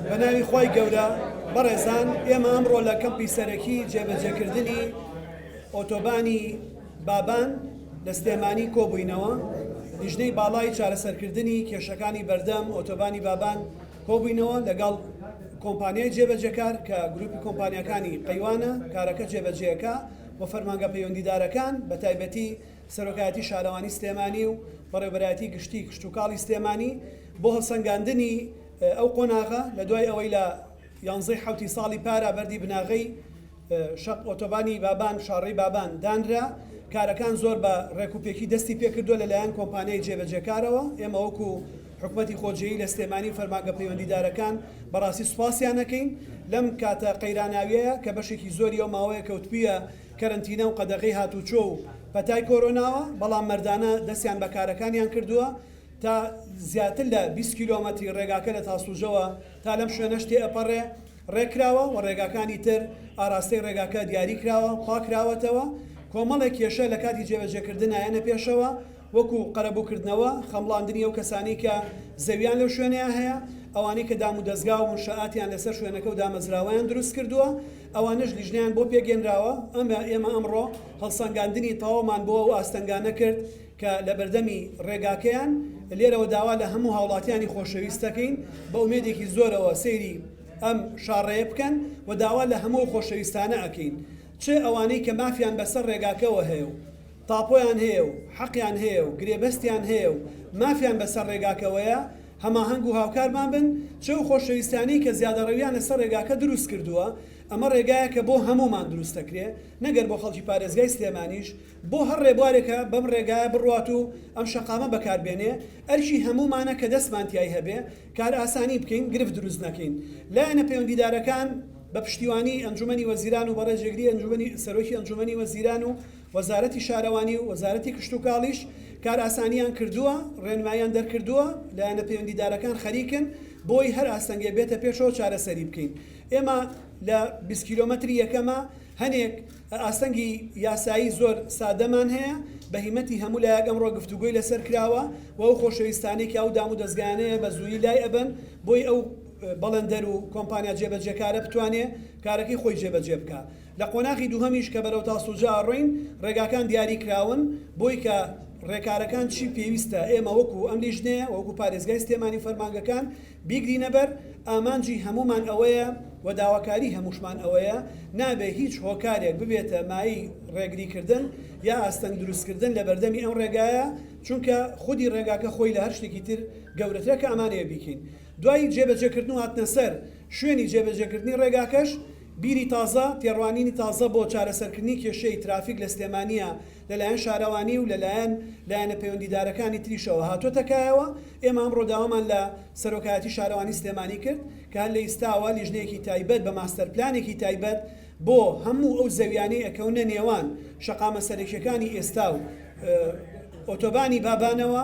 بەناوی خوای گەورە بەڕێزان ئێمە ئەمڕۆ لە کەمپی سەرەکی جێبەجێکردنی ئۆتۆبانی بابان لە سلێمانی کۆبووینەوە لیژنەی باڵای چارەسەرکردنی کێشەکانی بەردەم ئۆتۆبانی بابان کۆبووینەوە لەگەڵ کۆمپانیای جێبەجێکار کە گروپی کۆمپانیەکانی قەیوانە کارەکە جێبەجێەکە و فەرمانگە پەیوەندیدارەکان بە تایبەتی سەرۆکایەتی شارەوانی سلێمانی و بەڕێوبەرایەتی گشتی کشتوکاڵی سلێمانی بۆ هەڵسەنگاندنی ئەو قۆناغە لە دوای ئەوەی لە یانزەی حوتی ساڵی پارا بەردی بناغەی شەق ئۆتۆبانی بابان شاڕی بابان دانرا کارەکان زۆر بە ڕێکوپێکی دەستی پێکردووە لەلایەن کۆمپانیای جێبەجێکارەوە ئێمە وەکو حکوومەتی خۆجێی لە سلێمانی و فەرمانگە پەیوەندیدارەکان بەڕاستی سوپاسیانەکەین لەم کاتە قەیراناویەیە کە بەشێکی زۆری ئەو ماوەیە کەوتبیە کەرەنتینە و قەدەغەی هاتووچۆ و پەتای کۆرۆناوە، بەڵام مەردانە دەستیان بە کارەکانیان کردووە تا زیاتر لە بیست کیلۆمەتری ڕێگاکە لە تاسڵوجەوە تا لەم شوێنەش تێئەپەڕێ ڕێککراوە و ڕێگاکانی تر ئاراستەی ڕێگاکە دیاری کراوە پاککراوەتەوە کۆمەڵێک کێشە لە کاتی جێبەجێکردن نایەنە پێشەوە وەکو قەرەبووکردنەوە خەمڵاندنی ئەو کەسانەی کە زەویان لەو شوێنەیا هەیە ئەوانەی کە دامودەزگا و منشەئاتیان لەسەر شوێنەکە و دامەزراوەیان دروستکردووە ئەوانەش لیژنەیان بۆ پێکهێنراوە، ئەمە ئێمە ئەمڕۆ هەڵسەنگاندنی تەواومان بۆ ئەو ئاستەنگانە کرد کە لە بەردەمی ڕێگاکەیان، لێرەوە داوا لە هەموو هاوڵاتیانی خۆشەویست دەکەین بە ئومێدێکی زۆرەوە سەیری ئەم شاڕێیە بکەن و داوا لە هەموو ئەو خۆشەویستانە ئەکەین چ ئەوانەی کە مافیان بەسەر ڕێگاکەوە هەیە و تاپۆیان هەیە و حەقیان هەیە و گرێبەستیان هەیە و مافیان بەسەر رێگاکەوەیە، هەماهەنگ و هاوکارمان بن، چ ئەو خۆشەویستانەی کە زیادەڕەوییان لەسەر رێگاکە دروستکردووە، ئەمە رێگایەکە بۆ هەموومان دروستدەکرێ، نەگەر بۆ خەڵکی پارێزگای سلێمانیش، بۆ هەر رێبوارێکە بەم رێگایە بڕوات و ئەم شەقامە بەکاربێنێ، ئەرکی هەموومانە کە دەستمان تیای هەبێ، کارئاسانی بکەین، گرفت دروست نەکەین. لایەنە پەیوەندیدارەکان بە پشتیوانیی ئەنجوومەنی وەزیران و بە رێجێگریی ئەنجوومەنی سەرۆکی ئەنجوومەنی وەزیران و وەزارەتی شارەوانی و وەزارەتی کشتوکاڵیش کارئاسانیان کردووە، ڕێنماییان دەرکردووە، لایەنە پەیوەندیدارەکان خەریکن بۆی هەر ئاستەنگێ بێتە پێشەوە چارەسەری بکەین. ئێمە لە بیست کیلۆمەتری یەکەمە هەنێک ئاستەنگی یاسایی زۆر سادەمان هەیە، بە هیمەتی هەموو لایەک ئەمڕۆ گفتوگۆی لەسەر کراوە و ئەو خۆشەویستانەی کە ئەو دامودەزگایانەیە بە زوویی لای ئەبەن بۆی ئەو بەڵندەر و کۆمپانیا جێبەجێکارە بتوانێ کارەکەی خۆی جێبەجێ بکا. لە قۆناغی دووهەمیش کە بەرەو تاسوجە ئەڕۆین ڕێگاکان دیاری کراون بۆی کە ڕێکارەکان چی پێویستە ئێمە وەکو ئەم لیژنەیە وەکو پارێزگای سلێمانی و فەرمانگەکان بیگرینە بەر ئامانجی هەموومان ئەوەیە و داواکاری هەمووشمان ئەوەیە نابێ هیچ هۆکارێک ببێتە مایەی ڕێگری کردن یا ئاستەنگ دروست کردن لە بەردەمی ئەم ڕێگایە چونکە خودی ڕێگاکە خۆی لە هەر شتێکی تر گەورەترە کە ئەمانەیە بیکەین دوای جێبەجێ کردن و هاتنە سەر شوێنی جێبەجێ کردنی ڕێگاکەش بیری تازە، تێڕوانینی تازە بۆ چارەسەرکردنی کێشەی ترافیک لە سلێمانییە لەلایەن شارەوانی و لەلایەن لایەنە پەیوەندیدارەکانی تریشەوە هاتووەتە کایەوە، ئێمە ئەمڕۆ داوامان لە سەرۆکایەتی شارەوانی سلێمانی کرد کە هەر لە ئیستاوە لیژنەیەکی تایبەت بە ماستەر پلانێکی تایبەت بۆ هەموو ئەو زەویانەی ئەکەونە نێوان شەقامە سەرەکیەکانی ئێستا و ئۆتۆبانی بابانەوە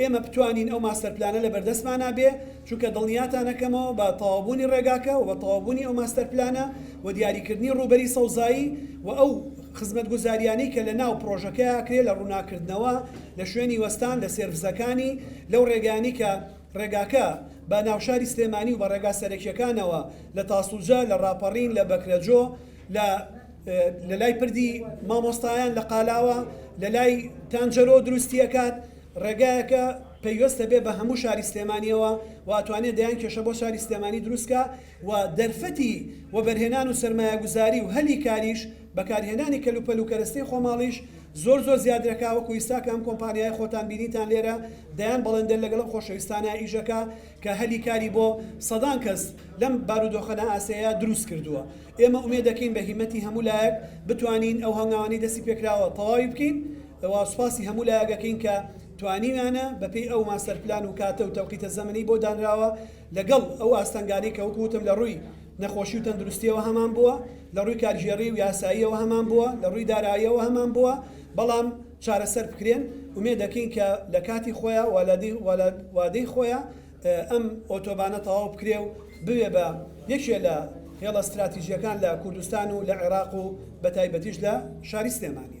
ئێمە بتوانین ئەو ماستەر پلانە لە بەردەستمانا بێ، چونکە دڵنیاتان ئەکەمەوە بە تەواوبوونی ڕێگاکە و بە تەواوبوونی ئەو ماستەر پلانە و دیاریکردنی ڕووبەری سەوزایی و ئەو خزمەتگوزاریانەی کە لە ناو پڕۆژەکە ئەکرێ لە ڕووناککردنەوە لە شوێنی وەستان لە سێرڤسەکانی لەو ڕێگایانەی کە ڕێگاکە بە ناوشاری سلێمانی و بە ڕێگا سەرەکیەکانەوە لە تاسڵجە، لە ڕاپەڕین، لە بەکرەجۆ، لە. لە لای پردی مامۆستایان لە قالاوە لە لای تانجەرۆ دروستیەکات ڕێگایەکە پەیوەستە بێ بە هەموو شاری سلێمانیەوە واتوانێت دەیان کێشە بۆ شاری سلێمانی دروستکە و دەرفەتی وەبەرهێنان و سرمایە گوزاری و هەلی کاریش بەکارهێنانی کەلوپەل و کەرەستەی خۆماڵیش زۆر زۆر زیادرەکا وەکو ئیستا کە ئەم کۆمپانیای خۆتان بینیتان لێرە دەیان بەڵێندەر لەگەڵم خۆشەویستانە ئیژەکە کە هەلی کاری بۆ سەدان کەس لەم بارودۆخەنە ئاسەیە دروست کردووە ئێمە ئومێدەکەین بە هیمەتی هەموو لایەک بتوانین ئەو هەنگاوانەی دەستی پێکراوە تەواوی بکەین و سوپاسی هەموو لایەگەکەین کە توانیویانە بەپێی ئەو ماستەر پلان و کاتە و تەوقیتە زەمەنی بۆ دانراوە لەگەڵ ئەو ئاستەنگانەی کە وەکو وتم لە رووی نەخۆشی و تەندروستیەوە هەمان بووە لە رووی کارگێڕی و یاساییەوە هەمان بووە لە رووی دارایەوە هەمان بووە بەڵام چارەسەر بکرێن ئومێدەکەین کە لە کاتی خۆیان و لە وادەی خۆیان ئەم ئۆتۆبانە تەواو بکرێ و ببێ بە یەکێ لە هێڵە ستراتیجییەکان لە کوردستان و لە عێراق و بەتایبەتیش لە شاری سلێمانی.